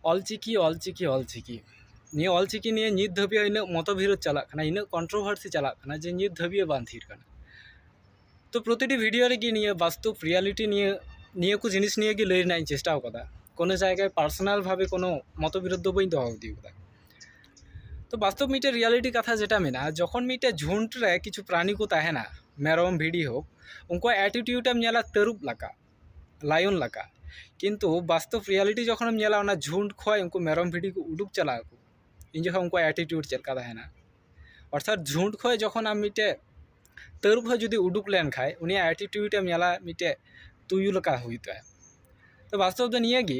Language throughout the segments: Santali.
ᱚᱞ ᱪᱤᱠᱤ ᱚᱞ ᱪᱤᱠᱤ ᱚᱞ ᱪᱤᱠᱤ ᱱᱤᱭᱟᱹ ᱚᱞ ᱪᱤᱠᱤ ᱱᱤᱭᱮ ᱱᱤᱛ ᱫᱷᱟᱹᱵᱤᱡ ᱦᱚᱸ ᱤᱱᱟᱹᱜ ᱢᱚᱛᱚ ᱵᱷᱤᱲᱳᱫ ᱪᱟᱞᱟᱜ ᱠᱟᱱᱟ ᱤᱱᱟᱹᱜ ᱠᱚᱱᱴᱨᱳᱵᱷᱟᱨᱥᱤ ᱪᱟᱞᱟᱜ ᱠᱟᱱᱟ ᱡᱮ ᱱᱤᱛ ᱫᱷᱟᱹᱵᱤᱡ ᱦᱚᱸ ᱵᱟᱝ ᱛᱷᱤᱨ ᱠᱟᱱᱟ ᱛᱚ ᱯᱨᱚᱛᱤᱴᱤ ᱵᱷᱤᱰᱤᱭᱳ ᱨᱮᱜᱮ ᱱᱤᱭᱟᱹ ᱵᱟᱥᱛᱚᱵ ᱨᱤᱭᱟᱞᱤᱴᱤ ᱱᱤᱭᱟᱹ ᱱᱤᱭᱟᱹ ᱠᱚ ᱡᱤᱱᱤᱥ ᱱᱤᱭᱮ ᱜᱮ ᱞᱟᱹᱭ ᱨᱮᱱᱟᱜ ᱤᱧ ᱪᱮᱥᱴᱟᱣ ᱠᱟᱫᱟ ᱠᱳᱱᱳ ᱡᱟᱭᱜᱟ ᱨᱮ ᱯᱟᱨᱥᱳᱱᱟᱞ ᱵᱷᱟᱵᱮ ᱠᱳᱱᱳ ᱢᱚᱛᱚ ᱵᱤᱨᱳᱫᱷ ᱫᱚ ᱵᱟᱹᱧ ᱫᱚᱦᱚ ᱤᱫᱤ ᱠᱟᱫᱟ ᱛᱚ ᱵᱟᱥᱛᱚᱵ ᱢᱤᱫᱴᱮᱱ ᱨᱤᱭᱟᱞᱤᱴᱤ ᱠᱟᱛᱷᱟ ᱡᱮᱴᱟ ᱢᱮᱱᱟᱜᱼᱟ ᱡᱚᱠᱷᱚᱱ ᱢᱤᱫᱴᱮᱱ ᱡᱷᱩᱱᱴ ᱨᱮ ᱠᱤᱪᱷᱩ ᱯᱨᱟᱱᱤ ᱠᱚ ᱛᱟᱦᱮᱱᱟ ᱢᱮᱨᱚᱢ ᱵᱷᱤᱰᱤ ᱦᱳᱠ ᱩᱱᱠᱩᱣᱟᱜ ᱮᱴᱤᱴᱤᱭᱩᱰ ᱮᱢ ᱧᱮᱞᱟ ᱛᱟᱹᱨᱩᱵ ᱞᱮᱠᱟ ᱞᱟᱭᱚᱱ ᱞᱮᱠᱟ ᱠᱤᱱᱛᱩ ᱵᱟᱥᱛᱚᱵ ᱨᱤᱭᱟᱞᱤᱴᱤ ᱡᱚᱠᱷᱚᱱᱮᱢ ᱧᱮᱞᱟ ᱚᱱᱟ ᱡᱷᱩᱸᱴ ᱠᱷᱚᱡ ᱩᱱᱠᱩ ᱢᱮᱨᱚᱢ ᱵᱷᱤᱰᱤ ᱠᱚ ᱩᱰᱩᱠ ᱪᱟᱞᱟᱜ ᱟᱠᱚ ᱩᱱ ᱡᱚᱠᱷᱚᱡ ᱩᱱᱠᱩᱣᱟᱜ ᱮᱴᱤᱴᱤᱭᱩᱰ ᱪᱮᱫ ᱞᱮᱠᱟ ᱛᱟᱦᱮᱱᱟ ᱚᱨᱛᱷᱟᱛ ᱡᱷᱩᱸᱴ ᱠᱷᱚᱡ ᱡᱚᱠᱷᱚᱱ ᱟᱢ ᱢᱤᱫᱴᱮᱡ ᱛᱟᱹᱨᱩᱵ ᱦᱚᱸ ᱡᱩᱫᱤ ᱩᱰᱩᱠ ᱞᱮᱱᱠᱷᱟᱡ ᱩᱱᱤᱭᱟᱜ ᱮᱴᱤᱴᱤᱭᱩᱰ ᱮᱢ ᱧᱮᱞᱟ ᱢᱤᱫᱴᱮᱡ ᱛᱩᱭᱩ ᱞᱮᱠᱟ ᱦᱩᱭᱩᱜ ᱛᱟᱭᱟ ᱛᱚ ᱵᱟᱥᱛᱚᱵ ᱫᱚ ᱱᱤᱭᱟᱹᱜᱮ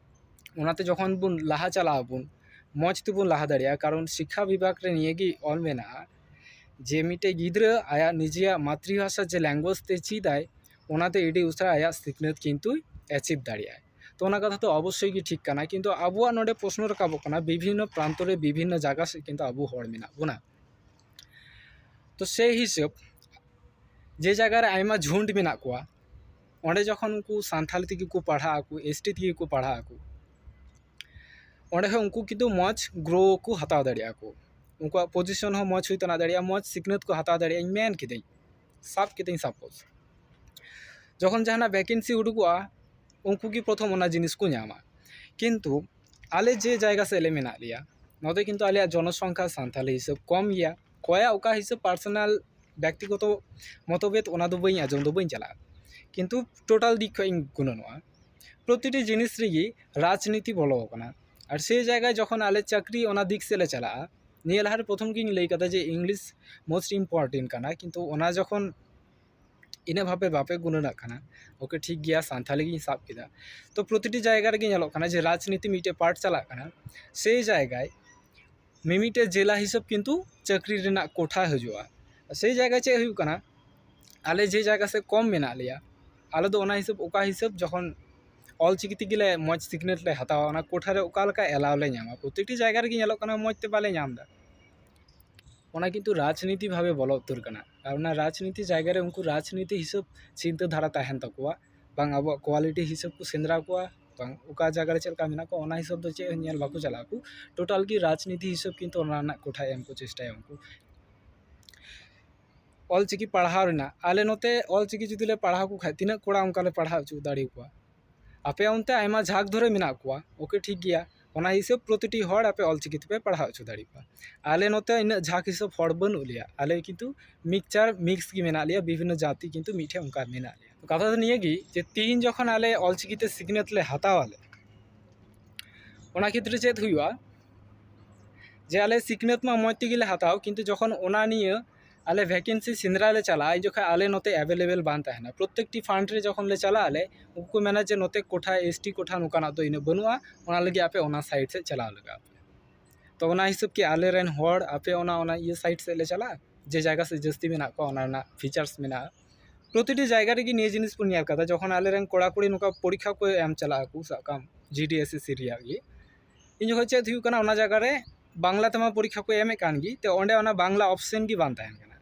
ᱚᱱᱟᱛᱮ ᱡᱚᱠᱷᱚᱱ ᱵᱚᱱ ᱞᱟᱦᱟ ᱪᱟᱞᱟᱜ ᱟᱵᱚᱱ ᱢᱚᱡᱽ ᱛᱮᱵᱚᱱ ᱞᱟᱦᱟ ᱫᱟᱲᱮᱭᱟᱜᱼᱟ ᱠᱟᱨᱚᱱ ᱥᱤᱠᱠᱷᱟ ᱵᱤᱵᱷᱟᱜᱽ ᱨᱮ ᱱᱤᱭᱟᱹ ᱜᱮ ᱚᱞ ᱢᱮᱱᱟᱜᱼᱟ ᱡᱮ ᱢᱤᱫᱴᱮᱡ ᱜᱤᱫᱽᱨᱟᱹ ᱟᱭᱟᱜ ᱱᱤᱡᱮᱭᱟᱜ ᱢᱟᱛᱨᱤ ᱵᱷᱟᱥᱟ ᱡᱮ ᱞᱮᱝᱜᱩᱭᱮᱡᱽ ᱛᱮ ᱪᱮᱫ ᱟᱭ ᱚᱱᱟᱛᱮ ᱟᱹᱰᱤ ᱩᱥᱟᱹᱨᱟ ᱟᱭᱟᱜ ᱥᱤᱠᱷᱱᱟᱹᱛ ᱠᱤᱱᱛᱩᱭ ᱮᱪᱤᱵᱽ ᱫᱟᱲᱮᱭᱟᱜᱼᱟᱭ ᱛᱚ ᱚᱱᱟ ᱠᱟᱛᱷᱟ ᱫᱚ ᱚᱵᱚᱥᱥᱳᱭ ᱜᱮ ᱴᱷᱤᱠ ᱠᱟᱱᱟ ᱠᱤᱱᱛᱩ ᱟᱵᱚᱣᱟᱜ ᱱᱚᱰᱮ ᱯᱨᱚᱥᱱᱚ ᱨᱟᱠᱟᱵᱚᱜ ᱠᱟᱱᱟ ᱵᱤᱵᱷᱤᱱᱱᱚ ᱯᱨᱟᱱᱛᱚ ᱨᱮ ᱵᱤᱵᱷᱤᱱᱱᱚ ᱡᱟᱭᱜᱟ ᱥᱮᱫ ᱠᱤᱱᱛᱩ ᱟᱵᱚ ᱦᱚᱲ ᱢᱮᱱᱟᱜ ᱵᱚᱱᱟ ᱛᱚ ᱥᱮᱭ ᱦᱤᱥᱟᱹᱵᱽ ᱡᱮ ᱡᱟᱭᱜᱟ ᱨᱮ ᱟᱭᱢᱟ ᱡᱷᱩᱸᱴ ᱢᱮᱱᱟᱜ ᱠᱚᱣᱟ ᱚᱸᱰᱮ ᱡᱚᱠᱷᱚᱱ ᱩᱱᱠᱩ ᱥᱟᱱᱛᱟᱲᱤ ᱛᱮᱜᱮ ᱠᱚ ᱯᱟᱲᱦᱟᱜ ᱟᱠᱚ ᱮᱥ ᱴᱤ ᱛᱮᱜᱮ ᱠᱚ ᱯᱟᱲᱦᱟᱜ ᱟᱠᱚ ᱚᱸᱰᱮ ᱦᱚᱸ ᱩᱱᱠᱩ ᱠᱤᱱᱛᱩ ᱢᱚᱡᱽ ᱜᱨᱳ ᱠᱚ ᱦᱟᱛᱟᱣ ᱫᱟᱲᱮᱭᱟᱜᱼᱟ ᱠᱚ ᱩᱱᱠᱩᱣᱟᱜ ᱯᱚᱡᱤᱥᱚᱱ ᱦᱚᱸ ᱢᱚᱡᱽ ᱦᱩᱭ ᱛᱟᱦᱮᱸ ᱫᱟᱲᱮᱭᱟᱜᱼᱟ ᱢᱚᱡᱽ ᱥᱤᱠᱷᱱᱟᱹᱛ ᱠᱚ ᱦᱟᱛᱟᱣ ᱫᱟᱲᱮᱭᱟᱜᱼᱟ ᱤᱧ ᱢᱮᱱ ᱠᱤᱫᱟᱹᱧ ᱥᱟᱵ ᱠᱤᱫᱟᱹᱧ ᱥᱟᱯᱳᱡᱽ ᱡᱚᱠᱷᱚᱱ ᱡᱟᱦᱟᱱᱟᱜ ᱵᱷᱮᱠᱮᱱᱥᱤ ᱩᱰᱩᱠᱚᱜᱼᱟ ᱩᱱᱠᱩ ᱜᱮ ᱯᱨᱚᱛᱷᱚᱢ ᱚᱱᱟ ᱡᱤᱱᱤᱥ ᱠᱚ ᱧᱟᱢᱟ ᱠᱤᱱᱛᱩ ᱟᱞᱮ ᱡᱮ ᱡᱟᱭᱜᱟ ᱥᱮᱫ ᱨᱮ ᱢᱮᱱᱟᱜ ᱞᱮᱭᱟ ᱱᱚᱸᱰᱮ ᱠᱤᱱᱛᱩ ᱟᱞᱮᱭᱟᱜ ᱡᱚᱱᱚᱥᱚᱝᱠᱷᱟ ᱥᱟᱱᱛᱟᱲᱤ ᱦᱤᱥᱟᱹᱵᱽ ᱠᱚᱢ ᱜᱮᱭᱟ ᱚᱠᱚᱭᱟᱜ ᱚᱠᱟ ᱦᱤᱥᱟᱹᱵ ᱯᱟᱨᱥᱚᱱᱟᱞ ᱵᱮᱠᱛᱤᱜᱚᱛᱚ ᱢᱚᱛᱚᱵᱷᱮᱫ ᱚᱱᱟ ᱫᱚ ᱵᱟᱹᱧ ᱟᱸᱡᱚᱢ ᱫᱚ ᱵᱟᱹᱧ ᱪᱟᱞᱟᱜᱼᱟ ᱠᱤᱱᱛᱩ ᱴᱳᱴᱟᱞ ᱫᱤᱠ ᱠᱷᱚᱡ ᱤᱧ ᱜᱩᱱᱟᱹᱱᱚᱜᱼᱟ ᱯᱨᱚᱛᱤᱴᱤ ᱡᱤᱱᱤᱥ ᱨᱮᱜᱮ ᱨᱟᱡᱽᱱᱤᱛᱤ ᱵᱚᱞᱚ ᱟᱠᱟᱱᱟ ᱟᱨ ᱥᱮ ᱡᱟᱭᱜᱟ ᱡᱚᱠᱷᱚᱱ ᱟᱞᱮ ᱪᱟᱹᱠᱨᱤ ᱚᱱᱟ ᱫᱤᱠ ᱥᱮᱡ ᱞᱮ ᱪᱟᱞᱟᱜᱼᱟ ᱱᱤᱭᱟᱹ ᱞᱟᱦᱟ ᱨᱮ ᱯᱨᱚᱛᱷᱚᱢ ᱜᱤᱧ ᱞᱟᱹᱭ ᱠᱟᱫᱟ ᱡᱮ ᱤᱝᱞᱤᱥ ᱢᱳᱥᱴ ᱤᱢᱯᱳᱨᱴᱮᱱᱴ ᱠᱟᱱᱟ ᱠᱤᱱᱛᱩ ᱚᱱᱟ ᱡᱚᱠᱷᱚᱱ ᱤᱱᱟᱹᱜ ᱵᱷᱟᱵᱮ ᱵᱟᱯᱮ ᱜᱩᱱᱟᱹᱱᱟᱜ ᱠᱟᱱᱟ ᱳᱠᱮ ᱴᱷᱤᱠ ᱜᱮᱭᱟ ᱥᱟᱱᱛᱷᱟᱞᱤ ᱜᱤᱧ ᱥᱟᱵ ᱠᱮᱫᱟ ᱛᱚ ᱯᱨᱚᱛᱤᱴᱤ ᱡᱟᱭᱜᱟ ᱨᱮᱜᱮ ᱧᱮᱞᱚᱜ ᱠᱟᱱᱟ ᱡᱮ ᱨᱟᱡᱽᱱᱤᱛᱤ ᱢᱤᱫᱴᱮᱡ ᱯᱟᱨᱴ ᱪᱟᱞᱟᱜ ᱠᱟᱱᱟ ᱥᱮ ᱡᱟᱭᱜᱟᱭ ᱢᱤᱢᱤᱫᱴᱮᱡ ᱡᱮᱞᱟ ᱦᱤᱥᱟᱹᱵ ᱠᱤᱱᱛᱩ ᱪᱟᱹᱠᱨᱤ ᱨᱮᱱᱟᱜ ᱠᱚᱴᱷᱟ ᱦᱤᱡᱩᱜᱼᱟ ᱥᱮᱭ ᱡᱟᱭᱜᱟ ᱪᱮᱫ ᱦᱩᱭᱩᱜ ᱠᱟᱱᱟ ᱟᱞᱮ ᱡᱮ ᱡᱟᱭᱜᱟ ᱥᱮᱡ ᱠᱚᱢ ᱢᱮᱱᱟᱜ ᱞᱮᱭᱟ ᱟᱞᱮ ᱫᱚ ᱚᱱᱟ ᱦᱤᱥᱟᱹᱵ ᱚᱠᱟ ᱦᱤᱥᱟᱹᱵ ᱡᱚᱠᱷᱚᱱ ᱚᱞ ᱪᱤᱠᱤ ᱛᱮᱜᱮ ᱞᱮ ᱢᱚᱡᱽ ᱥᱤᱠᱷᱱᱟᱹᱛ ᱞᱮ ᱦᱟᱛᱟᱣᱟ ᱚᱱᱟ ᱠᱚᱴᱷᱟ ᱨᱮ ᱚᱠᱟ ᱞᱮᱠᱟ ᱮᱞᱟᱣ ᱞᱮ ᱧᱟᱢᱟ ᱯᱨᱚᱛᱤᱴᱤ ᱡᱟᱭᱜᱟ ᱨᱮᱜᱮ ᱧᱮᱞᱚᱜ ᱠᱟᱱᱟ ᱢᱚᱡᱽ ᱛᱮ ᱵᱟᱞᱮ ᱧᱟᱢᱫᱟ ᱚᱱᱟ ᱠᱤᱱᱛᱩ ᱨᱟᱡᱽᱱᱤᱛᱤ ᱵᱷᱟᱵᱮ ᱵᱚᱞᱚ ᱩᱛᱟᱹᱨ ᱠᱟᱱᱟ ᱟᱨ ᱚᱱᱟ ᱨᱟᱡᱽᱱᱤᱛᱤ ᱡᱟᱭᱜᱟ ᱨᱮ ᱩᱱᱠᱩ ᱨᱟᱡᱽᱱᱤᱛᱤ ᱦᱤᱥᱟᱹᱵ ᱪᱤᱱᱛᱟᱹ ᱫᱷᱟᱨᱟ ᱛᱟᱦᱮᱱ ᱛᱟᱠᱚᱣᱟ ᱵᱟᱝ ᱟᱵᱚᱣᱟᱜ ᱠᱚᱣᱟᱞᱤᱴᱤ ᱦᱤᱥᱟᱹᱵ ᱠᱚ ᱥᱮᱸᱫᱽᱨᱟ ᱠᱚᱣᱟ ᱵᱟᱝ ᱚᱠᱟ ᱡᱟᱭᱜᱟ ᱨᱮ ᱪᱮᱫ ᱞᱮᱠᱟ ᱢᱮᱱᱟᱜ ᱠᱚᱣᱟ ᱚᱱᱟ ᱦᱤᱥᱟᱹᱵ ᱫᱚ ᱪᱮᱫ ᱦᱚᱸ ᱧᱮᱞ ᱵᱟᱠᱚ ᱪᱟᱞᱟᱜ ᱟᱠᱚ ᱴᱳᱴᱟᱞ ᱜᱮ ᱨᱟᱡᱽᱱᱤᱛᱤ ᱦᱤᱥᱟᱹᱵ ᱠᱤᱱᱛᱩ ᱚᱱᱟ ᱨᱮᱱᱟᱜ ᱠᱳᱴᱷᱟᱭ ᱮᱢ ᱠᱚ ᱪᱮᱥᱴᱟᱭᱟ ᱩᱱᱠᱩ ᱚᱞ ᱪᱤᱠᱤ ᱯᱟᱲᱦᱟᱣ ᱨᱮᱱᱟᱜ ᱟᱞᱮ ᱱᱚᱛᱮ ᱚᱞ ᱪᱤᱠᱤ ᱡᱩᱫᱤ ᱞᱮ ᱯᱟᱲᱦᱟᱣ ᱠᱚ ᱠᱷᱟᱡ ᱛᱤᱱᱟᱹᱜ ᱠᱚᱲᱟ ᱚᱱᱠᱟ ᱞᱮ ᱯᱟᱲᱦᱟᱣ ᱦᱚᱪᱚ ᱫᱟᱲᱮᱭᱟᱠᱚᱣᱟ ᱟᱯᱮ ᱚᱱᱛᱮ ᱟᱭᱢᱟ ᱡᱷᱟᱸᱠ ᱫᱷᱚᱨᱮ ᱢᱮᱱᱟᱜ ᱠᱚᱣᱟ ᱳᱠᱮ ᱴᱷᱤᱠ ᱜᱮᱭᱟ ᱚᱱᱟ ᱦᱤᱥᱟᱹᱵ ᱯᱨᱚᱛᱤᱴᱤ ᱦᱚᱲ ᱟᱯᱮ ᱚᱞ ᱪᱤᱠᱤ ᱛᱮᱯᱮ ᱯᱟᱲᱦᱟᱣ ᱦᱚᱪᱚ ᱫᱟᱲᱮ ᱠᱚᱣᱟ ᱟᱞᱮ ᱱᱚᱛᱮ ᱤᱱᱟᱹᱜ ᱡᱷᱟᱸᱠ ᱦᱤᱥᱟᱹᱵ ᱦᱚᱲ ᱵᱟᱹᱱᱩᱜ ᱞᱮᱭᱟ ᱟᱞᱮ ᱠᱤᱱᱛᱩ ᱢᱤᱠᱪᱟᱨ ᱢᱤᱠᱥ ᱜᱮ ᱢᱮᱱᱟᱜ ᱞᱮᱭᱟ ᱵᱤᱵᱷᱤᱱᱱᱚ ᱡᱟᱹᱛᱤ ᱠᱤᱱᱛᱩ ᱢᱤᱫ ᱴᱷᱮᱱ ᱚᱱᱠᱟ ᱢᱮᱱᱟᱜ ᱞᱮᱭᱟ ᱠᱟᱛᱷᱟ ᱫᱚ ᱱᱤᱭᱟᱹ ᱜᱮ ᱡᱮ ᱛᱮᱦᱮᱧ ᱡᱚᱠᱷᱚᱱ ᱟᱞᱮ ᱚᱞ ᱪᱤᱠᱤ ᱛᱮ ᱥᱤᱠᱷᱱᱟᱹᱛ ᱞᱮ ᱦᱟᱛᱟᱣ ᱟᱞᱮ ᱚᱱᱟ ᱠᱷᱮᱛᱨᱮ ᱪᱮᱫ ᱦᱩᱭᱩᱜᱼᱟ ᱡᱮ ᱟᱞᱮ ᱥᱤᱠᱷᱱᱟᱹᱛ ᱢᱟ ᱢᱚᱡᱽ ᱛᱮᱜᱮ ᱞᱮ ᱦᱟᱛᱟᱣ ᱠᱤᱱᱛᱩ ᱡᱚᱠᱷᱚᱱ ᱚᱱᱟ ᱱᱤᱭᱟᱹ ᱟᱞᱮ ᱵᱷᱮᱠᱮᱱᱥᱤ ᱥᱮᱸᱫᱽᱨᱟ ᱞᱮ ᱪᱟᱞᱟᱜᱼᱟ ᱩᱱ ᱡᱚᱠᱷᱟᱡ ᱟᱞᱮ ᱱᱚᱛᱮ ᱮᱵᱮᱞᱮᱵᱮᱞ ᱵᱟᱝ ᱛᱟᱦᱮᱱᱟ ᱯᱨᱚᱛᱮᱠᱴᱤ ᱯᱷᱟᱱᱰ ᱨᱮ ᱡᱚᱠᱷᱚᱱ ᱞᱮ ᱪᱟᱞᱟᱜ ᱟᱞᱮ ᱩᱱᱠᱩ ᱠᱚ ᱢᱮᱱᱟ ᱡᱮ ᱱᱚᱛᱮ ᱠᱚᱴᱷᱟ ᱮᱥ ᱴᱤ ᱠᱚᱴᱷᱟ ᱱᱚᱝᱠᱟᱱᱟᱜ ᱫᱚ ᱤᱱᱟᱹᱜ ᱵᱟᱹᱱᱩᱜᱼᱟ ᱚᱱᱟ ᱞᱟᱹᱜᱤᱫ ᱟᱯᱮ ᱚᱱᱟ ᱥᱟᱭᱤᱰ ᱥᱮᱫ ᱪᱟᱞᱟᱣ ᱞᱟᱜᱟᱣ ᱟᱯᱮᱭᱟ ᱛᱚ ᱚᱱᱟ ᱦᱤᱥᱟᱹᱵ ᱠᱤ ᱟᱞᱮ ᱨᱮᱱ ᱦᱚᱲ ᱟᱯᱮ ᱚᱱᱟ ᱚᱱᱟ ᱤᱭᱟᱹ ᱥᱟᱭᱤᱰ ᱥᱮᱫ ᱞᱮ ᱪᱟᱞᱟᱜᱼᱟ ᱡᱮ ᱡᱟᱭᱜᱟ ᱥᱮᱫ ᱡᱟᱹᱥᱛᱤ ᱢᱮᱱᱟᱜ ᱠᱚᱣᱟ ᱚᱱᱟ ᱨᱮᱱᱟᱜ ᱯᱷᱤᱪᱟᱨᱥ ᱢᱮᱱᱟᱜᱼᱟ ᱯᱨᱚᱛᱤᱴᱤ ᱡᱟᱭᱜᱟ ᱨᱮᱜᱮ ᱱᱤᱭᱟᱹ ᱡᱤᱱᱤᱥ ᱵᱚᱱ ᱧᱮᱞ ᱠᱟᱫᱟ ᱡᱚᱠᱷᱚᱱ ᱟᱞᱮ ᱨᱮᱱ ᱠᱚᱲᱟᱼᱠᱩᱲᱤ ᱱᱚᱝᱠᱟ ᱯᱚᱨᱤᱠᱠᱷᱟ ᱠᱚ ᱮᱢ ᱪᱟᱞᱟᱜᱼᱟ ᱥᱟᱵ ᱠᱟᱜ ᱟᱢ G D S S C ᱨᱮᱭᱟᱜ ᱜᱮ ᱩᱱ ᱡᱚᱠᱷᱚᱱ ᱪᱮᱫ ᱦᱩᱭᱩᱜ ᱠᱟᱱᱟ ᱚᱱᱟ ᱡᱟᱭᱜᱟ ᱨᱮ ᱵᱟᱝᱞᱟ ᱛᱮᱢᱟ ᱯᱚᱨᱤᱠᱠᱷᱟ ᱠᱚ ᱮᱢᱮᱜ ᱠᱟᱱ ᱜᱮ ᱛᱚ ᱚᱸᱰᱮ ᱚᱱᱟ ᱵᱟᱝᱞᱟ ᱚᱯᱷᱥᱮᱱ ᱜᱮ ᱵᱟᱝ ᱛᱟᱦᱮᱱ ᱠᱟᱱᱟ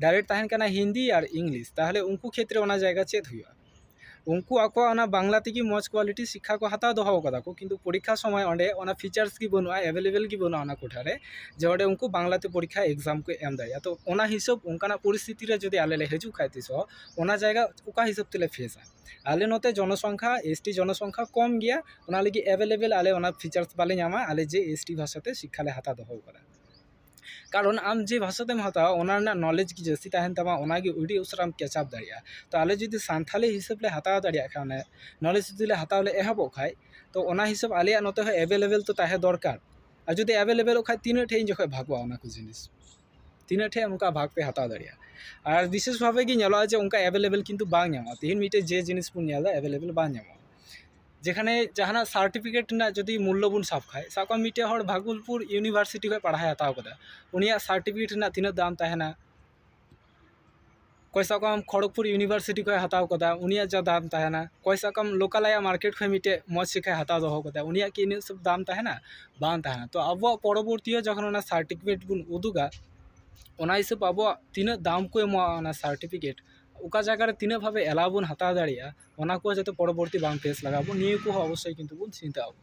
ᱰᱟᱭᱨᱮᱠᱴ ᱛᱟᱦᱮᱱ ᱠᱟᱱᱟ ᱦᱤᱱᱫᱤ ᱟᱨ ᱤᱝᱞᱤᱥ ᱛᱟᱦᱚᱞᱮ ᱩᱱᱠᱩ ᱠᱷᱮᱛᱨᱮ ᱚᱱᱟ ᱡᱟᱭᱜᱟ ᱪᱮᱫ ᱦᱩᱭᱩᱜᱼᱟ ᱩᱱᱠᱩ ᱟᱠᱚᱣᱟᱜ ᱚᱱᱟ ᱵᱟᱝᱞᱟ ᱛᱮᱜᱮ ᱢᱚᱡᱽ ᱠᱚᱣᱟᱞᱤᱴᱤ ᱥᱤᱠᱠᱷᱟ ᱠᱚ ᱦᱟᱛᱟᱣ ᱫᱚᱦᱚ ᱠᱟᱫᱟ ᱠᱚ ᱠᱤᱱᱛᱩ ᱯᱚᱨᱤᱠᱠᱷᱟ ᱥᱚᱢᱚᱭ ᱚᱸᱰᱮ ᱚᱱᱟ ᱯᱷᱤᱪᱟᱨᱥ ᱜᱮ ᱵᱟᱹᱱᱩᱜᱼᱟ ᱮᱵᱮᱞᱮᱵᱮᱞ ᱜᱮ ᱵᱟᱹᱱᱩᱜᱼᱟ ᱚᱱᱟ ᱠᱚᱴᱷᱟ ᱨᱮ ᱡᱮ ᱚᱸᱰᱮ ᱩᱱᱠᱩ ᱵᱟᱝᱞᱟ ᱛᱮ ᱯᱚᱨᱤᱠᱠᱷᱟ ᱮᱠᱡᱟᱢ ᱠᱚ ᱮᱢ ᱫᱟᱲᱮᱭᱟᱜᱼᱟ ᱛᱚ ᱚᱱᱟ ᱦᱤᱥᱟᱹᱵ ᱚᱱᱠᱟᱱᱟᱜ ᱯᱚᱨᱤᱥᱛᱷᱤᱛᱤ ᱨᱮ ᱡᱩᱫᱤ ᱟᱞᱮ ᱞᱮ ᱦᱤᱡᱩᱜ ᱠᱷᱟᱱ ᱛᱤᱥᱚᱜ ᱚᱱᱟ ᱡᱟᱭᱜᱟ ᱚᱠᱟ ᱦᱤᱥᱟᱹᱵ ᱛᱮᱞᱮ ᱯᱷᱮᱥᱟ ᱟᱞᱮ ᱱᱚᱛᱮ ᱡᱚᱱᱚ ᱥᱚᱝᱠᱷᱟ ᱮᱥ ᱴᱤ ᱡᱚᱱᱚ ᱥᱚᱝᱠᱷᱟ ᱠᱚᱢ ᱜᱮᱭᱟ ᱚᱱᱟ ᱞᱟᱹᱜᱤᱫ ᱮᱵᱮᱞᱮᱵᱮᱞ ᱟᱞᱮ ᱚᱱᱟ ᱯᱷᱤᱪᱟᱨᱥ ᱵᱟᱞᱮ ᱧᱟᱢᱟ ᱟᱞᱮ ᱡᱮ ᱮᱥ ᱴᱤ ᱵᱷᱟᱥᱟ ᱛᱮ ᱥᱤᱠᱠᱷᱟ ᱞᱮ ᱦᱟᱛᱟᱣ ᱫᱚᱦᱚᱣ ᱠᱟᱫᱟ ᱠᱟᱨᱚᱱ ᱟᱢ ᱡᱮ ᱵᱷᱟᱥᱟ ᱛᱮᱢ ᱦᱟᱛᱟᱣᱟ ᱚᱱᱟ ᱨᱮᱱᱟᱜ ᱱᱚᱞᱮᱡᱽ ᱜᱮ ᱡᱟᱹᱥᱛᱤ ᱛᱟᱦᱮᱱ ᱛᱟᱢᱟ ᱚᱱᱟ ᱜᱮ ᱟᱹᱰᱤ ᱩᱥᱟᱹᱨᱟᱢ ᱠᱮᱪᱟᱯ ᱫᱟᱲᱮᱭᱟᱜᱼᱟ ᱛᱚ ᱟᱞᱮ ᱡᱩᱫᱤ ᱥᱟᱱᱛᱷᱟᱞᱤ ᱦᱤᱥᱟᱹᱵ ᱞᱮ ᱦᱟᱛᱟᱣ ᱫᱟᱲᱮᱭᱟᱜ ᱠᱷᱟᱱ ᱚᱱᱮ ᱱᱚᱞᱮᱡᱽ ᱡᱩᱫᱤ ᱞᱮ ᱦᱟᱛᱟᱣ ᱞᱮ ᱮᱦᱚᱵᱚᱜ ᱠᱷᱟᱱ ᱛᱚ ᱚᱱᱟ ᱦᱤᱥᱟᱹᱵ ᱟᱞᱮᱭᱟᱜ ᱱᱚᱛᱮ ᱦᱚᱸ ᱮᱵᱮᱞᱮᱵᱮᱞ ᱛᱚ ᱛᱟᱦᱮᱸ ᱫᱚᱨᱠᱟᱨ ᱟᱨ ᱡᱩᱫᱤ ᱮᱵᱮᱞᱮᱵᱮᱞᱚᱜ ᱠᱷᱟᱱ ᱛᱤᱱᱟᱹᱜ ᱴᱷᱮᱱ ᱤᱧ ᱡᱚᱠᱷᱚᱱ ᱵᱷᱟᱜᱚᱜᱼᱟ ᱚᱱᱟ ᱠᱚ ᱡᱤᱱᱤᱥ ᱛᱤᱱᱟᱹᱜ ᱴᱷᱮᱡ ᱚᱱᱠᱟ ᱵᱷᱟᱜᱽ ᱯᱮ ᱦᱟᱛᱟᱣ ᱫᱟᱲᱮᱭᱟᱜᱼᱟ ᱟᱨ ᱵᱤᱥᱮᱥ ᱵᱷᱟᱵᱮ ᱜᱮ ᱧᱮᱞᱚᱜᱼᱟ ᱡᱮ ᱚᱱᱠᱟ ᱮᱵᱮᱞᱮᱵᱮᱞ ᱠᱤᱱᱛᱩ ᱵᱟᱝ ᱧᱟᱢᱚᱜᱼᱟ ᱛᱮᱦᱮᱧ ᱢᱤᱫᱴᱮᱡ ᱡᱮ ᱡᱤᱱᱤᱥ ᱵᱚᱱ ᱧᱮᱞᱫᱟ ᱮᱵᱮᱞᱮᱵᱮᱞ ᱵᱟᱝ ᱧᱟᱢᱚᱜᱼᱟ ᱡᱮᱠᱷᱟᱱᱮ ᱡᱟᱦᱟᱱᱟᱜ ᱥᱟᱨᱴᱤᱯᱷᱤᱠᱮᱴ ᱨᱮᱱᱟᱜ ᱡᱩᱫᱤ ᱢᱩᱞᱞᱚ ᱵᱚᱱ ᱥᱟᱵ ᱠᱷᱟᱡ ᱥᱟᱵ ᱠᱟᱜ ᱢᱮ ᱢᱤᱫᱴᱮᱡ ᱦᱚᱲ ᱵᱷᱟᱜᱚᱞᱯᱩᱨ ᱤᱭᱩᱱᱤᱵᱷᱟᱨᱥᱤᱴᱤ ᱠᱷᱚᱡ ᱯᱟᱲᱦᱟᱣᱮ ᱦᱟᱛᱟᱣ ᱠᱟᱫᱟ ᱩᱱᱤᱭᱟᱜ ᱥᱟᱨᱴᱤᱯᱷᱤᱠᱮᱴ ᱨᱮᱱᱟᱜ ᱛᱤᱱᱟᱹᱜ ᱫᱟᱢ ᱛᱟᱦᱮᱱᱟ ᱚᱠᱚᱭ ᱥᱟᱵ ᱠᱟᱜ ᱢᱮ ᱠᱷᱚᱲᱚᱜᱽᱯᱩᱨ ᱤᱭᱩᱱᱤᱵᱷᱟᱨᱥᱤᱴᱤ ᱠᱷᱚᱱᱮ ᱦᱟᱛᱟᱣ ᱠᱟᱫᱟ ᱩᱱᱤᱭᱟᱜ ᱡᱟ ᱫᱟᱢ ᱛᱟᱦᱮᱱᱟ ᱚᱠᱚᱭ ᱥᱟᱵ ᱠᱟᱜ ᱢᱮ ᱞᱳᱠᱟᱞ ᱟᱭᱟᱜ ᱢᱟᱨᱠᱮᱴ ᱠᱷᱚᱱ ᱢᱤᱫᱴᱮᱡ ᱢᱚᱡᱽ ᱥᱤᱠᱠᱷᱟᱭ ᱦᱟᱛᱟᱣ ᱫᱚᱦᱚ ᱠᱟᱫᱟ ᱩᱱᱤᱭᱟᱜ ᱠᱤ ᱤᱱᱟᱹᱜ ᱥᱚᱵ ᱫᱟᱢ ᱛᱟᱦᱮᱱᱟ ᱵᱟᱝ ᱛᱟᱦᱮᱱᱟ ᱛᱚ ᱟᱵᱚᱣᱟᱜ ᱯᱚᱨᱚᱵᱚᱨᱛᱤ ᱨᱮ ᱡᱚᱠᱷᱚᱱ ᱚᱱᱟ ᱥᱟᱨᱴᱤᱯᱷᱤᱠᱮᱴ ᱵᱚᱱ ᱩᱫᱩᱜᱟ ᱚᱱᱟ ᱦᱤᱥᱟᱹᱵ ᱟᱵᱚᱣᱟᱜ ᱛᱤᱱᱟᱹᱜ ᱫᱟᱢ ᱠᱚ ᱮᱢᱚᱜᱼᱟ ᱚᱱᱟ ᱥᱟᱨᱴᱤᱯᱷᱤᱠᱮᱴ ᱚᱠᱟ ᱡᱟᱭᱜᱟ ᱨᱮ ᱛᱤᱱᱟᱹᱜ ᱵᱷᱟᱵᱮ ᱮᱞᱟᱣ ᱵᱚᱱ ᱦᱟᱛᱟᱣ ᱫᱟᱲᱮᱭᱟᱜᱼᱟ ᱚᱱᱟ ᱠᱚ ᱡᱟᱛᱮ ᱯᱚᱨᱚᱵᱚᱨᱛᱤ ᱵᱟᱝ ᱯᱷᱮᱥ ᱞᱟᱜᱟᱣ ᱵᱚᱱ ᱱᱤᱭᱟᱹ ᱠᱚᱦᱚᱸ ᱚᱵᱚᱥᱥᱳᱭ ᱠᱤᱱᱛᱩ ᱵᱚᱱ ᱪᱤᱱᱛᱟᱹᱜᱼᱟ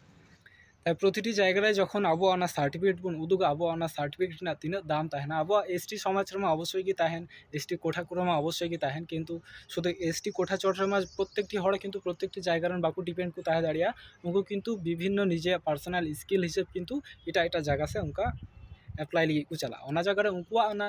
ᱛᱟᱭ ᱯᱨᱚᱛᱤᱴᱤ ᱡᱟᱭᱜᱟ ᱨᱮ ᱡᱚᱠᱷᱚᱱ ᱟᱵᱚᱣᱟᱜ ᱚᱱᱟ ᱥᱟᱨᱴᱤᱯᱷᱤᱠᱮᱴ ᱵᱚᱱ ᱩᱫᱩᱜᱟ ᱟᱵᱚᱣᱟᱜ ᱚᱱᱟ ᱥᱟᱨᱴᱤᱯᱷᱤᱠᱮᱴ ᱨᱮᱱᱟᱜ ᱛᱤᱱᱟᱹᱜ ᱫᱟᱢ ᱛᱟᱦᱮᱱᱟ ᱟᱵᱚᱣᱟᱜ ᱮᱥ ᱴᱤ ᱥᱚᱢᱟᱡᱽ ᱨᱮᱢᱟ ᱚᱵᱚᱥᱥᱳᱭ ᱜᱮ ᱛᱟᱦᱮᱱ ᱮᱥ ᱴᱤ ᱠᱳᱴᱟ ᱠᱚᱨᱮ ᱢᱟ ᱚᱵᱚᱥᱥᱳᱭ ᱜᱮ ᱛᱟᱦᱮᱱ ᱠᱤᱱᱛᱩ ᱥᱩᱫᱩ ᱮᱥ ᱴᱤ ᱠᱳᱴᱟ ᱪᱚᱴ ᱨᱮᱢᱟ ᱯᱨᱚᱛᱛᱮᱠᱴᱤ ᱦᱚᱲ ᱠᱤᱱᱛᱩ ᱯᱨᱚᱛᱛᱮᱠᱴᱤ ᱡᱟᱭᱜᱟ ᱨᱮᱱ ᱵᱟᱠᱚ ᱰᱤᱯᱮᱱᱰ ᱠᱚ ᱛᱟᱦᱮᱸ ᱫᱟᱲᱮᱭᱟᱜᱼᱟ ᱩᱱᱠᱩ ᱠᱤᱱᱛᱩ ᱵᱤᱵᱷᱤᱱᱱᱚ ᱱᱤᱡᱮᱭᱟᱜ ᱯᱟᱨᱥᱳᱱᱟᱞ ᱥᱠᱤᱞ ᱦᱤᱥᱟᱹᱵ ᱠᱤᱱᱛᱩ ᱮᱴᱟᱜ ᱮᱴᱟᱜ ᱡᱟᱭᱜᱟ ᱥᱮᱫ ᱚᱱᱠᱟ ᱮᱯᱞᱟᱭ ᱞᱟᱹᱜᱤᱫ ᱠᱚ ᱪᱟᱞᱟᱜᱼᱟ ᱚᱱᱟ ᱡᱟᱭᱜᱟ ᱨᱮ ᱩᱱᱠᱩᱣᱟᱜ ᱚᱱᱟ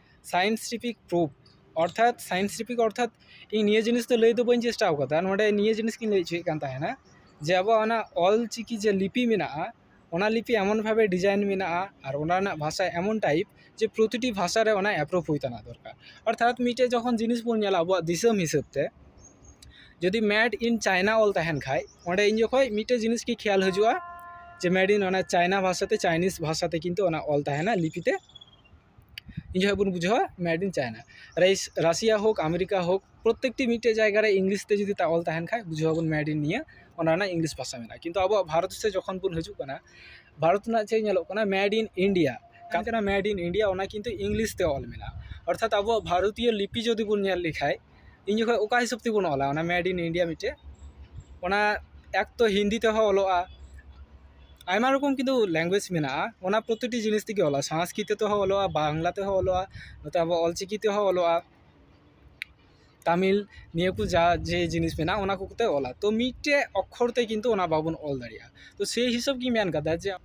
ᱥᱟᱭᱮᱱᱴᱤᱯᱷᱤᱠ ᱯᱨᱩᱯᱷ ᱚᱨᱛᱷᱟᱛ ᱥᱟᱭᱮᱱᱴᱤᱯᱷᱤᱠ ᱚᱨᱛᱷᱟᱛ ᱤᱧ ᱱᱤᱭᱟᱹ ᱡᱤᱱᱤᱥ ᱫᱚ ᱞᱟᱹᱭ ᱫᱚ ᱵᱟᱹᱧ ᱪᱮᱥᱴᱟ ᱟᱠᱟᱫᱟ ᱱᱚᱰᱮ ᱱᱤᱭᱟᱹ ᱡᱤᱱᱤᱥ ᱜᱤᱧ ᱞᱟᱹᱭ ᱦᱚᱪᱚᱭᱮᱫ ᱠᱟᱱ ᱛᱟᱦᱮᱱᱟ ᱡᱮ ᱟᱵᱚᱣᱟᱜ ᱚᱱᱟ ᱚᱞ ᱪᱤᱠᱤ ᱡᱮ ᱞᱤᱯᱤ ᱢᱮᱱᱟᱜᱼᱟ ᱚᱱᱟ ᱞᱤᱯᱤ ᱮᱢᱚᱱ ᱵᱷᱟᱵᱮ ᱰᱤᱡᱟᱭᱤᱱ ᱢᱮᱱᱟᱜᱼᱟ ᱟᱨ ᱚᱱᱟ ᱨᱮᱱᱟᱜ ᱵᱷᱟᱥᱟ ᱮᱢᱚᱱ ᱴᱟᱭᱤᱯ ᱡᱮ ᱯᱨᱚᱛᱤᱴᱤ ᱵᱷᱟᱥᱟ ᱨᱮ ᱚᱱᱟ ᱮᱯᱨᱩᱵᱷ ᱦᱩᱭ ᱛᱟᱦᱮᱸ ᱫᱚᱨᱠᱟᱨ ᱚᱨᱛᱷᱟᱛ ᱢᱤᱫᱴᱮᱡ ᱡᱚᱠᱷᱚᱱ ᱡᱤᱱᱤᱥ ᱵᱚᱱ ᱧᱮᱞᱟ ᱟᱵᱚᱣᱟᱜ ᱫᱤᱥᱚᱢ ᱦᱤᱥᱟᱹᱵ ᱛᱮ ᱡᱩᱫᱤ ᱢᱮᱰ ᱤᱱ ᱪᱟᱭᱱᱟ ᱚᱞ ᱛᱟᱦᱮᱱ ᱠᱷᱟᱡ ᱚᱸᱰᱮ ᱤᱧ ᱡᱚᱠᱷᱚᱡ ᱢᱤᱫᱴᱮᱡ ᱡᱤᱱᱤᱥ ᱜᱮ ᱠᱷᱮᱭᱟᱞ ᱦᱤᱡᱩᱜᱼᱟ ᱡᱮ ᱢᱮᱰ ᱤᱱ ᱚᱱᱟ ᱪᱟᱭᱱᱟ ᱵᱷᱟᱥᱟ ᱛᱮ ᱪᱟᱭᱱᱤᱥ ᱵᱷᱟᱥᱟ ᱛᱮ ᱠᱤᱱᱛᱩ ᱚᱱᱟ ᱚᱞ ᱛᱟᱦᱮᱱᱟ ᱞᱤᱯᱤ ᱛᱮ ᱤᱱᱟᱹ ᱦᱚᱸ ᱵᱚᱱ ᱵᱩᱡᱷᱟᱹᱣᱟ ᱢᱮᱰ ᱤᱱ ᱪᱟᱭᱱᱟ ᱨᱟᱭᱤᱥ ᱨᱟᱥᱤᱭᱟ ᱦᱳᱠ ᱟᱢᱮᱨᱤᱠᱟ ᱦᱳᱠ ᱯᱨᱚᱛᱮᱠᱴᱤ ᱢᱤᱫᱴᱮᱡ ᱡᱟᱭᱜᱟ ᱨᱮ ᱤᱝᱞᱤᱥ ᱛᱮ ᱡᱩᱫᱤ ᱚᱞ ᱛᱟᱦᱮᱱ ᱠᱷᱟᱡ ᱵᱩᱡᱷᱟᱹᱣ ᱟᱵᱚᱱ ᱢᱮᱰ ᱤᱱ ᱱᱤᱭᱟᱹ ᱚᱱᱟ ᱨᱮᱱᱟᱜ ᱤᱝᱞᱤᱥ ᱵᱷᱟᱥᱟ ᱢᱮᱱᱟᱜᱼᱟ ᱠᱤᱱᱛᱩ ᱟᱵᱚᱣᱟᱜ ᱵᱷᱟᱨᱚᱛ ᱥᱮᱫ ᱡᱚᱠᱷᱚᱱ ᱵᱚᱱ ᱦᱤᱡᱩᱜ ᱠᱟᱱᱟ ᱵᱷᱟᱨᱚᱛ ᱨᱮᱱᱟᱜ ᱪᱮᱫ ᱧᱮᱞᱚᱜ ᱠᱟᱱᱟ ᱢᱮᱰ ᱤᱱ ᱤᱱᱰᱤᱭᱟ ᱚᱠᱟ ᱠᱟᱱᱟ ᱢᱮᱰ ᱤᱱ ᱤᱱᱰᱤᱭᱟ ᱚᱱᱟ ᱠᱤᱱᱛᱩ ᱤᱝᱞᱤᱥ ᱛᱮ ᱚᱞ ᱢᱮᱱᱟᱜᱼᱟ ᱚᱨᱛᱷᱟᱛ ᱟᱵᱚᱣᱟᱜ ᱵᱷᱟᱨᱚᱛᱤᱭᱚ ᱞᱤᱯᱤ ᱡᱩᱫᱤ ᱵᱚᱱ ᱧᱮᱞ ᱞᱮᱠᱷᱟᱡ ᱤᱧ ᱡᱚᱠᱷᱚᱡ ᱚᱠᱟ ᱦᱤᱥᱟᱹᱵ ᱛᱮᱵᱚᱱ ᱚᱞᱟ ᱚᱱᱟ ᱢᱮᱰ ᱤᱱ ᱤᱱᱰᱤᱭᱟ ᱢᱤᱫᱴᱮᱡ ᱚᱱᱟ ᱮᱠ ᱛᱚ ᱦᱤᱱᱫᱤ ᱛᱮᱦᱚᱸ ᱚᱞᱚᱜᱼᱟ ᱟᱭᱢᱟ ᱨᱚᱠᱚᱢ ᱠᱤᱱᱛᱩ ᱞᱮᱝᱜᱩᱭᱮᱡᱽ ᱢᱮᱱᱟᱜᱼᱟ ᱚᱱᱟ ᱯᱨᱚᱛᱤᱴᱤ ᱡᱤᱱᱤᱥ ᱛᱮᱜᱮ ᱚᱞᱚᱜᱼᱟ ᱥᱚᱝᱥᱠᱨᱤᱛᱚ ᱛᱮᱦᱚᱸ ᱚᱞᱚᱜᱼᱟ ᱵᱟᱝᱞᱟ ᱛᱮᱦᱚᱸ ᱚᱞᱚᱜᱼᱟ ᱱᱚᱛᱮ ᱟᱵᱚ ᱚᱞ ᱪᱤᱠᱤ ᱛᱮᱦᱚᱸ ᱚᱞᱚᱜᱼᱟ ᱛᱟᱹᱢᱤᱞ ᱱᱤᱭᱟᱹ ᱠᱚ ᱡᱟ ᱡᱮ ᱡᱤᱱᱤᱥ ᱢᱮᱱᱟᱜᱼᱟ ᱚᱱᱟ ᱠᱚ ᱠᱚᱛᱮ ᱚᱞᱟ ᱛᱚ ᱢᱤᱫᱴᱮᱡ ᱚᱠᱠᱷᱚᱨ ᱛᱮ ᱠᱤᱱᱛᱩ ᱚᱱᱟ ᱵᱟᱵᱚᱱ ᱚᱞ ᱫᱟᱲᱮᱭᱟᱜᱼᱟ ᱛᱚ ᱥᱮᱭ ᱦᱤᱥᱟᱹᱵ ᱜᱮᱧ ᱢᱮᱱ ᱠᱟᱫᱟ ᱡᱮ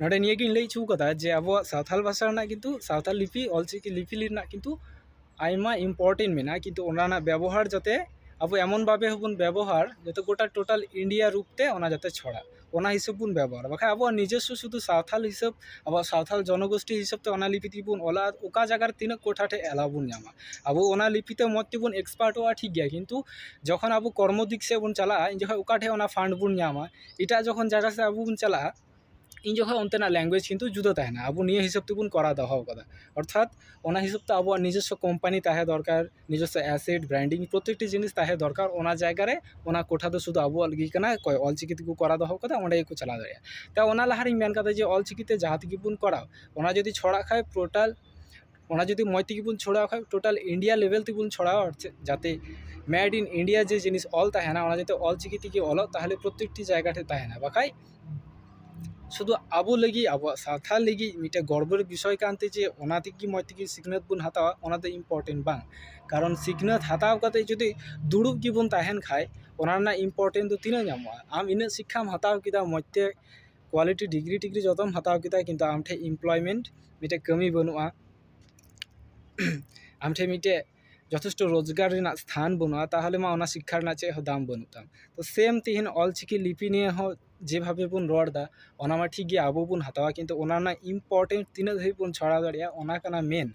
ᱱᱚᱸᱰᱮ ᱱᱤᱭᱟᱹᱜᱤᱧ ᱞᱟᱹᱭ ᱦᱚᱪᱚᱣ ᱠᱟᱫᱟ ᱡᱮ ᱟᱵᱚᱣᱟᱜ ᱥᱟᱶᱛᱟᱞ ᱵᱷᱟᱥᱟ ᱨᱮᱱᱟᱜ ᱠᱤᱱᱛᱩ ᱥᱟᱶᱛᱟᱞ ᱞᱤᱯᱤ ᱚᱞ ᱪᱤᱠᱤ ᱞᱤᱯᱤ ᱨᱮᱱᱟᱜ ᱠᱤᱱᱛᱩ ᱟᱭᱢᱟ ᱤᱢᱯᱚᱨᱴᱮᱱᱴ ᱢᱮᱱᱟᱜᱼᱟ ᱠᱤᱱᱛᱩ ᱚᱱᱟ ᱨᱮᱱᱟᱜ ᱵᱮᱵᱚᱦᱟᱨ ᱡᱟᱛᱮ ᱟᱵᱚ ᱮᱢᱚᱱ ᱵᱷᱟᱵᱮ ᱦᱚᱸᱵᱚᱱ ᱵᱮᱵᱚᱦᱟᱨ ᱡᱟᱛᱮ ᱜᱚᱴᱟ ᱴᱳᱴᱟᱞ ᱤᱱᱰᱤᱭᱟ ᱨᱩᱯ ᱛᱮ ᱚᱱᱟ ᱡᱟᱛᱮ ᱪᱷᱚᱲᱟᱜ ᱚᱱᱟ ᱦᱤᱥᱟᱹᱵ ᱵᱚᱱ ᱵᱮᱵᱚᱦᱟᱨᱟ ᱵᱟᱠᱷᱟᱡ ᱟᱵᱚᱣᱟᱜ ᱱᱤᱡᱚᱥᱥᱚ ᱥᱩᱫᱩ ᱥᱟᱶᱛᱟᱞ ᱦᱤᱥᱟᱹᱵ ᱟᱵᱚᱣᱟᱜ ᱥᱟᱶᱛᱟᱞ ᱡᱚᱱᱚᱜᱳᱥᱴᱤ ᱦᱤᱥᱟᱹᱵ ᱛᱮ ᱚᱱᱟ ᱞᱤᱯᱤ ᱛᱮᱜᱮ ᱵᱚᱱ ᱚᱞᱟ ᱚᱠᱟ ᱡᱟᱭᱜᱟ ᱨᱮ ᱛᱤᱱᱟᱹᱜ ᱠᱚᱴᱷᱟ ᱴᱷᱮᱡ ᱮᱞᱟᱣ ᱵᱚᱱ ᱧᱟᱢᱟ ᱟᱵᱚ ᱚᱱᱟ ᱞᱤᱯᱤ ᱛᱮ ᱢᱚᱡᱽ ᱛᱮᱵᱚᱱ ᱮᱠᱥᱯᱟᱨᱴᱚᱜᱼᱟ ᱴᱷᱤᱠ ᱜᱮᱭᱟ ᱠᱤᱱᱛᱩ ᱡᱚᱠᱷᱚᱱ ᱟᱵᱚ ᱠᱚᱨᱢᱚ ᱫᱤᱠ ᱥᱮᱡ ᱵᱚᱱ ᱪᱟᱞᱟᱜᱼᱟ ᱩᱱ ᱡᱚᱠᱷᱚᱡ ᱚᱠᱟ ᱴᱷᱮᱡ ᱚᱱᱟ ᱯᱷᱟᱱᱰ ᱵᱚᱱ ᱧᱟᱢᱟ ᱮᱴᱟᱜ ᱡᱚᱠᱷᱚᱱ ᱡᱟᱭᱜᱟ ᱥᱮᱫ ᱟᱵᱚ ᱵᱚᱱ ᱪᱟᱞᱟᱜᱼᱟ ᱩᱱ ᱡᱚᱠᱷᱚᱱ ᱚᱱᱛᱮᱱᱟᱜ ᱞᱮᱝᱜᱩᱭᱮᱡᱽ ᱠᱤᱱᱛᱩ ᱡᱩᱫᱟᱹ ᱛᱟᱦᱮᱱᱟ ᱟᱵᱚ ᱱᱤᱭᱟᱹ ᱦᱤᱥᱟᱹᱵ ᱛᱮᱵᱚᱱ ᱠᱚᱨᱟᱣ ᱫᱚᱦᱚ ᱠᱟᱫᱟ ᱚᱨᱛᱷᱟᱛ ᱚᱱᱟ ᱦᱤᱥᱟᱹᱵ ᱛᱮ ᱟᱵᱚᱣᱟᱜ ᱱᱤᱡᱚᱥᱥᱚ ᱠᱳᱢᱯᱟᱱᱤ ᱛᱟᱦᱮᱸ ᱫᱚᱨᱠᱟᱨ ᱱᱤᱡᱚᱥᱥᱚ ᱮᱥᱮᱴ ᱵᱨᱮᱱᱰᱤᱝ ᱯᱨᱚᱛᱮᱠᱴᱤ ᱡᱤᱱᱤᱥ ᱛᱟᱦᱮᱸ ᱫᱚᱨᱠᱟᱨ ᱚᱱᱟ ᱡᱟᱭᱜᱟ ᱨᱮ ᱚᱱᱟ ᱠᱳᱴᱷᱟ ᱫᱚ ᱥᱩᱫᱷᱩ ᱟᱵᱚᱣᱟᱜ ᱞᱟᱹᱜᱤᱫ ᱠᱟᱱᱟ ᱚᱠᱚᱭ ᱚᱞ ᱪᱤᱠᱤ ᱛᱮᱠᱚ ᱠᱚᱨᱟᱣ ᱫᱚᱦᱚ ᱠᱟᱫᱟ ᱚᱸᱰᱮ ᱜᱮᱠᱚ ᱪᱟᱞᱟᱣ ᱫᱟᱲᱮᱭᱟᱜᱼᱟ ᱛᱚ ᱚᱱᱟ ᱞᱟᱦᱟ ᱨᱤᱧ ᱢᱮᱱ ᱠᱟᱫᱟ ᱡᱮ ᱚᱞ ᱪᱤᱠᱤ ᱛᱮ ᱡᱟᱦᱟᱸ ᱛᱮᱜᱮ ᱵᱚᱱ ᱠᱚᱨᱟᱣ ᱚᱱᱟ ᱡᱩᱫᱤ ᱪᱷᱚᱲᱟᱜ ᱠᱷᱟᱡ ᱯᱨᱳᱴᱟᱞ ᱚᱱᱟ ᱡᱩᱫᱤ ᱢᱚᱡᱽ ᱛᱮᱜᱮ ᱵᱚᱱ ᱪᱷᱚᱲᱟᱣ ᱠᱷᱟᱡ ᱴᱳᱴᱟᱞ ᱤᱱᱰᱤᱭᱟ ᱞᱮᱵᱮᱞ ᱛᱮᱵᱚᱱ ᱪᱷᱚᱲᱟᱣᱟ ᱟᱨ ᱪᱮᱫ ᱡᱟᱛᱮ ᱢᱮᱰ ᱤᱱ ᱤᱱᱰᱤᱭᱟ ᱡᱮ ᱡᱤᱱᱤᱥ ᱚᱞ ᱛᱟᱦᱮᱱᱟ ᱚᱱᱟ ᱡᱟᱛᱮ ᱚᱞ ᱪᱤᱠᱤ ᱛᱮᱜᱮ ᱚᱞᱚᱜ ᱛᱟᱦᱚᱞᱮ ᱯᱨᱚᱛᱮᱠᱴᱤ ᱡᱟᱭᱜᱟ ᱨᱮ ᱛᱟᱦᱮᱱᱟ ᱵᱟᱠᱷᱟᱡ ᱥᱩᱫᱩ ᱟᱵᱚ ᱞᱟᱹᱜᱤᱫ ᱟᱵᱚᱣᱟᱜ ᱥᱟᱶᱛᱟ ᱞᱟᱹᱜᱤᱫ ᱢᱤᱫᱴᱮᱡ ᱜᱚᱨᱵᱚ ᱨᱮ ᱵᱤᱥᱚᱭ ᱠᱟᱱᱛᱮ ᱡᱮ ᱚᱱᱟ ᱛᱮᱜᱮ ᱢᱚᱡᱽ ᱛᱮᱜᱮ ᱥᱤᱠᱷᱱᱟᱹᱛ ᱵᱚᱱ ᱦᱟᱛᱟᱣᱟ ᱚᱱᱟ ᱫᱚ ᱤᱢᱯᱚᱨᱴᱮᱱᱴ ᱵᱟᱝ ᱠᱟᱨᱚᱱ ᱥᱤᱠᱷᱱᱟᱹᱛ ᱦᱟᱛᱟᱣ ᱠᱟᱛᱮᱫ ᱡᱩᱫᱤ ᱫᱩᱲᱩᱵ ᱜᱮᱵᱚᱱ ᱛᱟᱦᱮᱱ ᱠᱷᱟᱡ ᱚᱱᱟ ᱨᱮᱱᱟᱜ ᱤᱢᱯᱚᱨᱴᱮᱱᱴ ᱫᱚ ᱛᱤᱱᱟᱹᱜ ᱧᱟᱢᱚᱜᱼᱟ ᱟᱢ ᱤᱱᱟᱹᱜ ᱥᱤᱠᱠᱷᱟᱢ ᱦᱟᱛᱟᱣ ᱠᱮᱫᱟ ᱢᱚᱡᱽ ᱛᱮ ᱠᱳᱣᱟᱞᱤᱴᱤ ᱰᱤᱜᱽᱨᱤ ᱴᱤᱜᱽᱨᱤ ᱡᱚᱛᱚᱢ ᱦᱟᱛᱟᱣ ᱠᱮᱫᱟ ᱠᱤᱱᱛᱩ ᱟᱢ ᱴᱷᱮᱱ ᱤᱢᱯᱞᱚᱭᱢᱮᱱᱴ ᱢᱤᱫᱴᱮᱱ ᱠᱟᱹᱢᱤ ᱵᱟᱹᱱᱩᱜᱼᱟ ᱟᱢ ᱴᱷᱮᱱ ᱢᱤᱫᱴᱮᱱ ᱡᱚᱛᱷᱮᱥᱴᱚ ᱨᱳᱡᱽᱜᱟᱨ ᱨᱮᱱᱟᱜ ᱥᱛᱷᱟᱱ ᱵᱟᱹᱱᱩᱜᱼᱟ ᱛᱟᱦᱚᱞᱮ ᱢᱟ ᱚᱱᱟ ᱥᱤᱠᱠᱷᱟ ᱨᱮᱱᱟᱜ ᱪᱮᱫ ᱦᱚᱸ ᱫᱟᱢ ᱵᱟᱹᱱᱩᱜ ᱛᱟᱢ ᱛᱚ ᱥᱮᱢ ᱛᱮᱦᱤᱧ ᱚᱞ ᱪᱤᱠᱤ ᱞᱤᱯᱤ ᱱᱤᱭᱮ ᱦᱚᱸ ᱡᱮᱵᱷᱟᱵᱮ ᱵᱚᱱ ᱨᱚᱲ ᱮᱫᱟ ᱚᱱᱟ ᱢᱟ ᱴᱷᱤᱠ ᱜᱮᱭᱟ ᱟᱵᱚ ᱵᱚᱱ ᱦᱟᱛᱟᱣᱟ ᱠᱤᱱᱛᱩ ᱚᱱᱟ ᱨᱮᱱᱟᱜ ᱤᱢᱯᱚᱨᱴᱮᱱᱴ ᱛᱤᱱᱟᱹᱜ ᱫᱷᱟᱹᱵᱤᱡ ᱵᱚᱱ ᱪᱷᱟᱲᱟᱣ ᱫᱟᱲᱮᱭᱟᱜᱼᱟ ᱚᱱᱟ ᱠᱟᱱᱟ ᱢᱮᱱ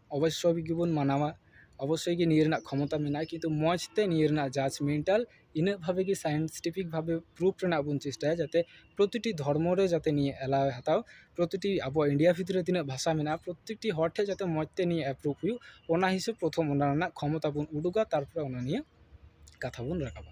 ᱚᱵᱚᱥᱥᱳᱭ ᱜᱮᱵᱚᱱ ᱢᱟᱱᱟᱣᱟ ᱚᱵᱚᱥᱥᱳᱭ ᱜᱮ ᱱᱤᱭᱟᱹ ᱨᱮᱱᱟᱜ ᱠᱷᱚᱢᱚᱛᱟ ᱢᱮᱱᱟᱜᱼᱟ ᱠᱤᱱᱛᱩ ᱢᱚᱡᱽ ᱛᱮ ᱱᱤᱭᱟᱹ ᱨᱮᱱᱟᱜ ᱡᱟᱡᱽ ᱢᱮᱱᱴᱟᱞ ᱤᱱᱟᱹᱜ ᱵᱷᱟᱵᱮ ᱜᱮ ᱥᱟᱭᱮᱱᱴᱤᱯᱷᱤᱠ ᱵᱷᱟᱵᱮ ᱯᱨᱩᱯᱷ ᱨᱮᱱᱟᱜ ᱵᱚᱱ ᱪᱮᱥᱴᱟᱭᱟ ᱡᱟᱛᱮ ᱯᱨᱚᱛᱤᱴᱤ ᱫᱷᱚᱨᱢᱚ ᱨᱮ ᱡᱟᱛᱮ ᱱᱤᱭᱟᱹ ᱮᱞᱟᱣ ᱮ ᱦᱟᱛᱟᱣ ᱯᱨᱚᱛᱤᱴᱤ ᱟᱵᱚ ᱤᱱᱰᱤᱭᱟ ᱵᱷᱤᱛᱨᱤ ᱨᱮ ᱛᱤᱱᱟᱹᱜ ᱵᱷᱟᱥᱟ ᱢᱮᱱᱟᱜᱼᱟ ᱯᱨᱚᱛᱮᱠᱴᱤ ᱦᱚᱲ ᱴᱷᱮᱱ ᱡᱟᱛᱮ ᱢᱚᱡᱽ ᱛᱮ ᱱᱤᱭᱟᱹ ᱮᱯᱨᱩᱵᱷ ᱦᱩᱭᱩᱜ ᱚᱱᱟ ᱦᱤᱥᱟᱹᱵ ᱯᱨᱚᱛᱷᱚᱢ ᱚᱱᱟ ᱨᱮᱱᱟᱜ ᱠᱷᱚᱢᱚᱛᱟ ᱵᱚᱱ ᱩᱫᱩᱜᱟ ᱛᱟᱨᱯᱚᱨᱮ ᱚᱱᱟ ᱱᱤᱭᱮ ᱠᱟᱛᱷᱟ ᱵᱚᱱ ᱨᱟᱠᱟᱵᱟ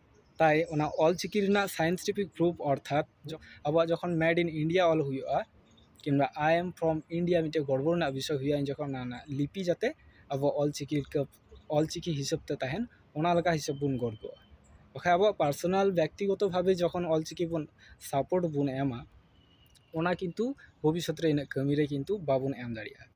ᱛᱟᱭ ᱚᱱᱟ ᱚᱞ ᱪᱤᱠᱤ ᱨᱮᱱᱟᱜ ᱥᱟᱭᱮᱱᱴᱤᱯᱷᱤᱠ ᱯᱨᱩᱯᱷ ᱚᱨᱛᱷᱟᱛ ᱟᱵᱚᱣᱟᱜ ᱡᱚᱠᱷᱚᱱ ᱢᱮᱰ ᱤᱱ ᱤᱱᱰᱤᱭᱟ ᱚᱞ ᱦᱩᱭᱩᱜᱼᱟ ᱠᱤᱢᱵᱟ ᱟᱭ ᱮᱢ ᱯᱷᱨᱚᱢ ᱤᱱᱰᱤᱭᱟ ᱢᱤᱫᱴᱮᱱ ᱜᱚᱨᱵᱚ ᱨᱮᱱᱟᱜ ᱵᱤᱥᱚᱭ ᱦᱩᱭᱩᱜᱼᱟ ᱩᱱ ᱡᱚᱠᱷᱚᱱ ᱚᱱᱟ ᱨᱮᱱᱟᱜ ᱞᱤᱯᱤ ᱡᱟᱛᱮ ᱟᱵᱚ ᱚᱞ ᱪᱤᱠᱤ ᱞᱮᱠᱟ ᱚᱞ ᱪᱤᱠᱤ ᱦᱤᱥᱟᱹᱵ ᱛᱮ ᱛᱟᱦᱮᱱ ᱚᱱᱟ ᱞᱮᱠᱟ ᱦᱤᱥᱟᱹᱵ ᱵᱚᱱ ᱜᱚᱨᱵᱚᱜᱼᱟ ᱵᱟᱠᱷᱟᱡ ᱟᱵᱚᱣᱟᱜ ᱯᱟᱨᱥᱚᱱᱟᱞ ᱵᱮᱠᱛᱤᱜᱚᱛᱚ ᱵᱷᱟᱵᱮ ᱡᱚᱠᱷᱚᱱ ᱚᱞ ᱪᱤᱠᱤ ᱵᱚᱱ ᱥᱟᱯᱳᱨᱴ ᱵᱚᱱ ᱮᱢᱟ ᱚᱱᱟ ᱠᱤᱱᱛᱩ ᱵᱷᱚᱵᱤᱥᱥᱚᱛ ᱨᱮ ᱤᱱᱟᱹᱜ ᱠᱟᱹᱢᱤ ᱨᱮ ᱠᱤᱱᱛᱩ ᱵᱟᱵᱚᱱ ᱮᱢ ᱫᱟᱲᱮᱭᱟᱜᱼᱟ